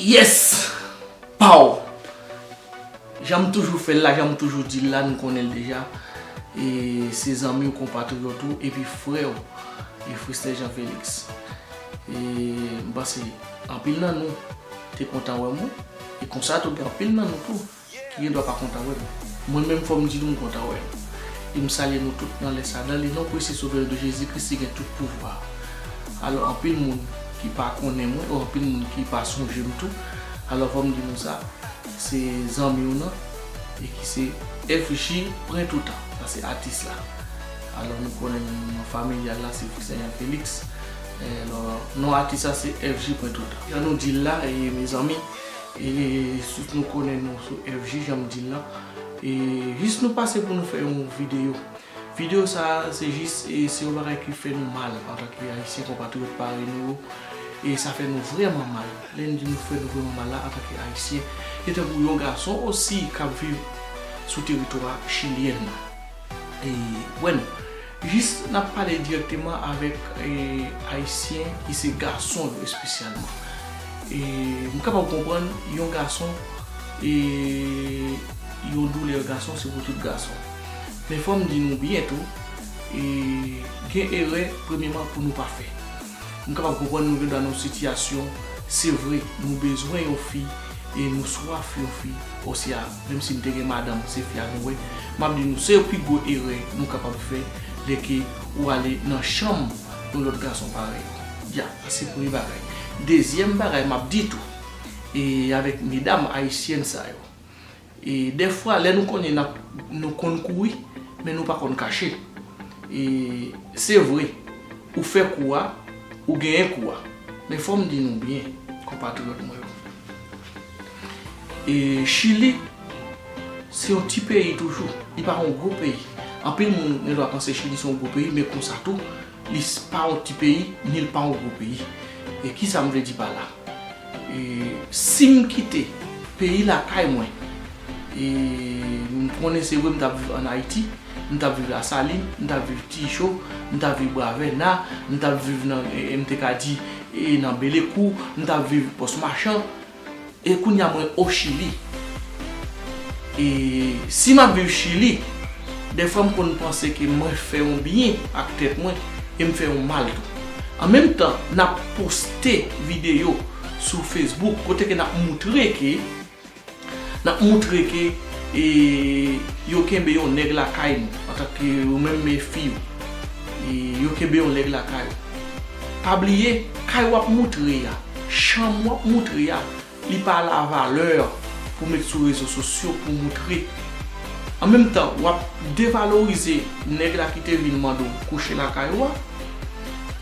Yes! Pow! Jan m toujou fè l la, jan m toujou di l la, nou konnen l deja. E se zanmi w, konpatriyòt ou, epi frè w, Fristè Jan Feliks. E m panse anpil nan nou te kontan wè m wi. E konsa tou gen anpil nan nou tou ki gen dwa pa kontan wè m. Mwen menm fò m di nou m kontan wè nou. E m salye nou tout nan lè sa. Nan le non prese Sovè yo de Jezi Kris ki gen tout pouvwa a. Alò anpil moun ki pa konnen mwen ou anpil moun ki pa sonje m tou, alò fò m di nou sa, se zanmi w nan e ki se FJ pren toutan, sa se atis la. Alò nou konnen nou nan familyal la se Fritz Elian Felix. Non atis la se FG mwen tout. Jan nou dil la mezanmi tout nou konnen nou sou FG jan m dil la e jis nou pase pou nou fè yon video. Video sa se jis se yon bagay ki fè nou mal antan ke ayisyen konpatriyòt parèy nou yo e sa fè nou vrèman mal. Lè n di nou fè nou vrèman mal la antan ke ayisyen se tankou yon gason osi kap viv sou teritwa chilyen nan e wè nou. Jist n ap pale dirèkteman avèk Ayisyen ki se gason yo espesyalman. M kapab konprann yon gason e yon doulè gason se pou tout gason. Men fò m di nou byen tou, gen erè premyeman pou nou pa fè. M kapab konprann nou gen dwa nan yon sitiyasyon, se vre nou bezwen yon fi e nou swaf yon fi osya. Menm si m te gen madanm se fi a nou wè, m ap di nou se pi gwo erè nou kapab fè lè ke ou ale nan chanm yon lòt gason parèy ou. Ya, sa se premye bagay. Dezyèm bagay m ap di tou, e avèk medam ayisyèn sa yo, e dèfwa lè nou konnen n ap, nou konn kouri, men nou pa konn kache. E se vre, ou fè kou a, ou genyen kou a. Men fò m di nou byen, konpatriyòt mwen yo. E Chili, se yon ti peyi toujou, li pa yon gwo peyi. Anpil moun gen dwa panse Chili se yon gwo peyi, men konsa tou, li pa yon ti peyi, ni li pa yon gwo peyi. E ki sa m vle di pa la? E si m kite peyi lakay mwen, e m konnen se vre m t ap viv ann Ayiti, m t ap viv Lasalin, m t ap viv Tijo, m t ap viv Bravèna, m t ap viv nan, m te ka di, e nan Belekou, m t ap viv Pòs Machan, E kounya mwen o chili. E si map viv chili, dèfwa m konn panse ke mwen fè yon byen ak tèt mwen e m fè yon mal tou. An menm tan nap poste videyo sou Facebook kote ke nap moutre ke nap moutre ke e yo kenbe yon nèg lakay nou antan ke ou menm me fi yo. E yo kenbe yon nèg lakay ou. Pa bliye kay wap moutre a. Cham wap moutre a li pa la valeur pou met sou rezo sosyo pou moutre. An menm tan wap devalorize nèg la ki te vin mande w kouche lakay ou a.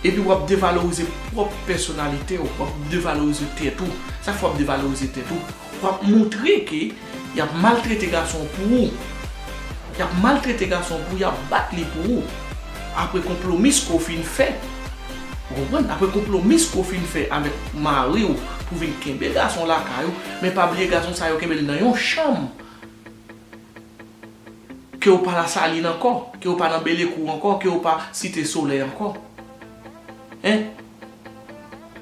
Epi wap devalorize pwop pèsonalite w, wap devalorize tèt ou. Sa fè wap devalorize tèt ou? Wap moutre ke yap maltrete gason pou ou. Yap maltrete gason pou ou, yap bat li pou ou. Apre konplomis ke w fin fè. Ou konprann? Apre konplomis ke w fin fè avèk mari w pou vin kenbe gason lakay ou. Men pa bliye gason sa yo kenbe l nan yon chanm ke w pa Lasalin ankò, ke w pa nan Belekou ankò, ke w pa Site Solèy ankò. Hein?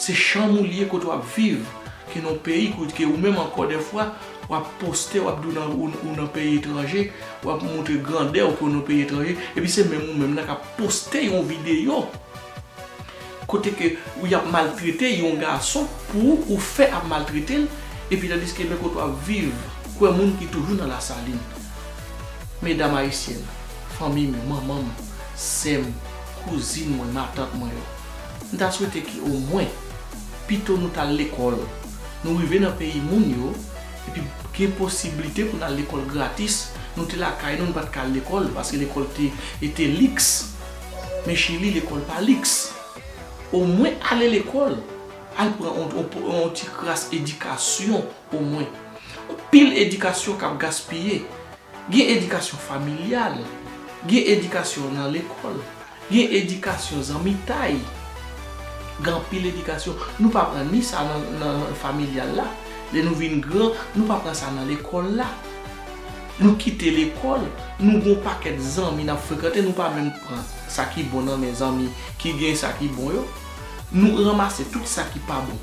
Se chanm ou li ye kote wap viv ki nan yon peyi ke ou menm ankò dèfwa wap poste wap di ou nan peyi etranje wap montre grandè ou ke ou nan yon peyi etranje epi se menm ou menm nan kap poste yon videyo kote ke ou yap maltrete yon gason pou ou ou fè ap maltrete l epi tandiske men kote wap viv kwè moun ki toujou nan lasalin medam ayisyèn fanmi m yo manman m sè m kouzin mwen matant mwen yo. M ta swete ke o mwen, pito nou tal lekòl, nou rive nan peyi moun yo, epi gen posiblite pou n al lekòl gratis, nou te lakay nou, nou pat ka al lekòl, paske lekòl te ete liks, men Chili lekòl pa liks. O mwen ale lekòl, al pran on ti kras edikasyon o mwen. Pil edikasyon kap gaspiye. Gen edikasyon familyal, gen edikasyon nan lekòl. Gen edikasyon zanmitay, gen anpil edikasyon nou pa pran ni sa nan familyal la, lè nou vin gran nou pa pran sa nan lekòl la. Nou kite lekòl, nou gen yon pakèt zanmi n ap frekante nou pa menm pran sa ki bon nan men zanmi ki gen sa ki bon yo. Nou ranmase tout sa ki pa bon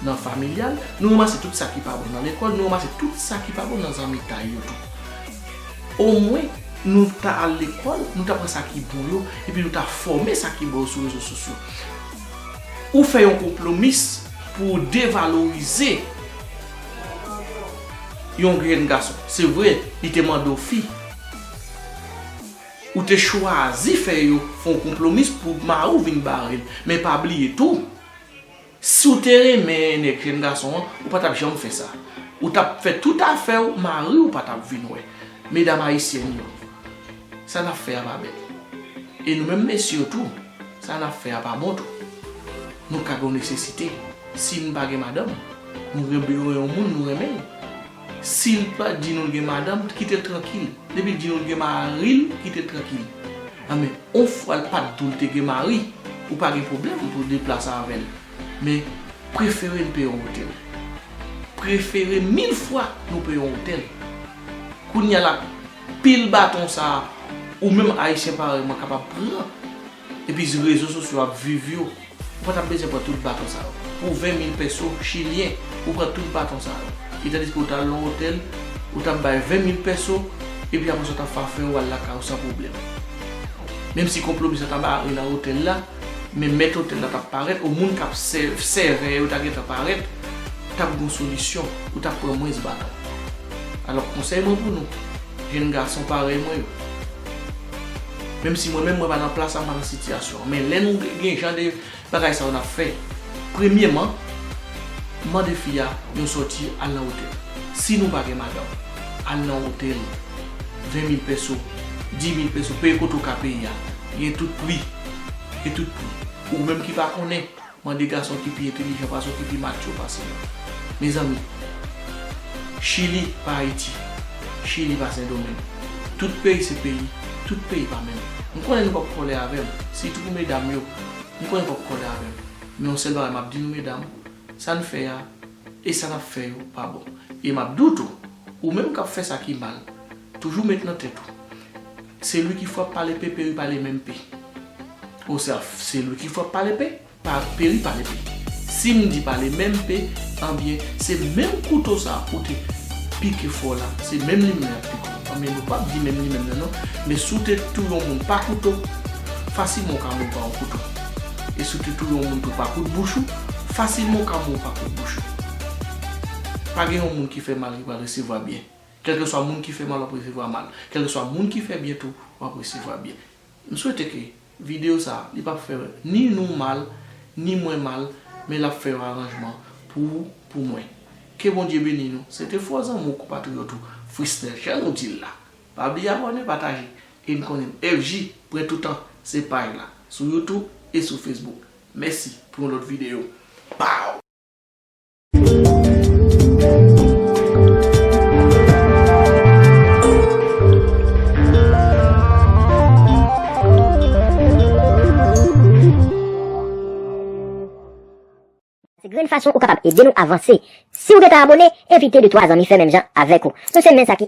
nan familyal, nou ranmase tout sa ki pa bon nan lekòl, nou ranmase tout sa ki pa bon nan zanmitay yo tou. Omwen, nou ta al lekòl, nou ta pran sa ki bon yo, epi nou ta fòme sa ki bon yo sou rezo sosyo. Ou fè yon konplomis pou ou devalorize yon jèn gason. Se vre, li te mande w fi. Ou te chwazi fè yon konplomis pou mari w vin bare l. Men pa bliye tou. Siw te renmen nèg jèn gason an ou pa tap janm fè sa ou tap fè tout afèw mariw pa tap vin wè medam ayisyèn yo sa nap fè a pa bèl e nou menm mesye yo tou sa nap fè a pa bon tou nou ka gen yon nesesite sin pa gen madanm nou gen bezwen yon moun nou renmenl. Sil pa di nou li gen madanm kitel trankil depil di nou li gen maril kitel trankil an men on fwa l pat dou l te gen mari ou pa gen problèm pou deplase avèl men prefere n peye on otèl prefere mil fwa nou peye on otèl kounya la pil baton sa ou menm ayisyen parèy mwen kapab pran. Epi si rezo sosyo ap viv yo, ou pa tap bezwen pran tout baton sa yo. Pou 20 mil pèso chilyen, ou pran tout baton sa yo. E tandiske ou ta al nan yon otèl, ou tap bay 20 mil pèso, epi apre sa ou tap fafe ou al lakay ou san pwoblèm. Menm si konplo misye ta bare nan otèl la, men mèt otèl la tap parèt, ou moun kap sèvè yo ta gentan parèt, tap gen yon solisyon, ou tap pran mwens baton. Alò konsèy mwen pou nou, jenn gason parèy mwen yo. Menm si mwen menm mwen pa nan plas la mwen pa nan sitiyasyon an men lè nou gen jan de bagay sa yo nap fè premyeman mande fi a yon sòti al nan otèl si nou pa gen madanm al nan otèl 20 mil pèso 10 mil pèso peye kote ou ka peye a gen tout pri gen tout pri ou menm ki pa konnen. Mande gason ki pi entelijan pase w ki pi matyo pase w. Mezanmi! Chili pa Ayiti, Chili pa Sendomeng. Tout peyi se peyi, tout peyi pa menm. M konnen nou p ap kòlè avè m, sitou pou medam yo, m konnen n p ap kòlè avè m. Men yon sèl bagay m ap di nou medam, sa n fè a e sa n ap fè yo pa bon. E m ap di w tou, ou menm k ap fè sa ki mal, Toujou met nan tèt ou. Se li ki fwa pale pe peri pale menm pe. O sa se li ki fwa pale pe pa peri pale pe. Si m di pale menm pe anbyen se menm kouto sa ou te pike fò la se menm li menm yap pike w anbyen nou pap di menm li menm nan non men si w te tou yon moun pa kouto fasilman w ka moun pa yon kouto e si w te tou yon moun tou pa kout bouch ou fasilman w ka moun pa kout bouch ou. Pa gen yon moun ki fè mal ki pral resevwa byen. Kèlkeswa moun ki fè mal wap resevwa mal, kèlkeswa moun ki fè byen tou wap resevwa byen. M swete ke video sa a li pap fè ni nou mal, ni mwen mal, men lap fè yon aranjman pou ou, pou mwen. Ke Bondye beni nou. Se te fò zanmi w, konpatriyòt ou, Frisnel jan nou di l la. Pa bliye abòne, pataje. E n konnen FJ prè toutan se paj la sou youtube e sou facebook. Mèsi pou yon lòt video. Pow! Grenn fason ou kapab ede nou avanse. Siw gentan abone, envite de twa zanmi fè menm jan avèk ou. Nou se men sa ki.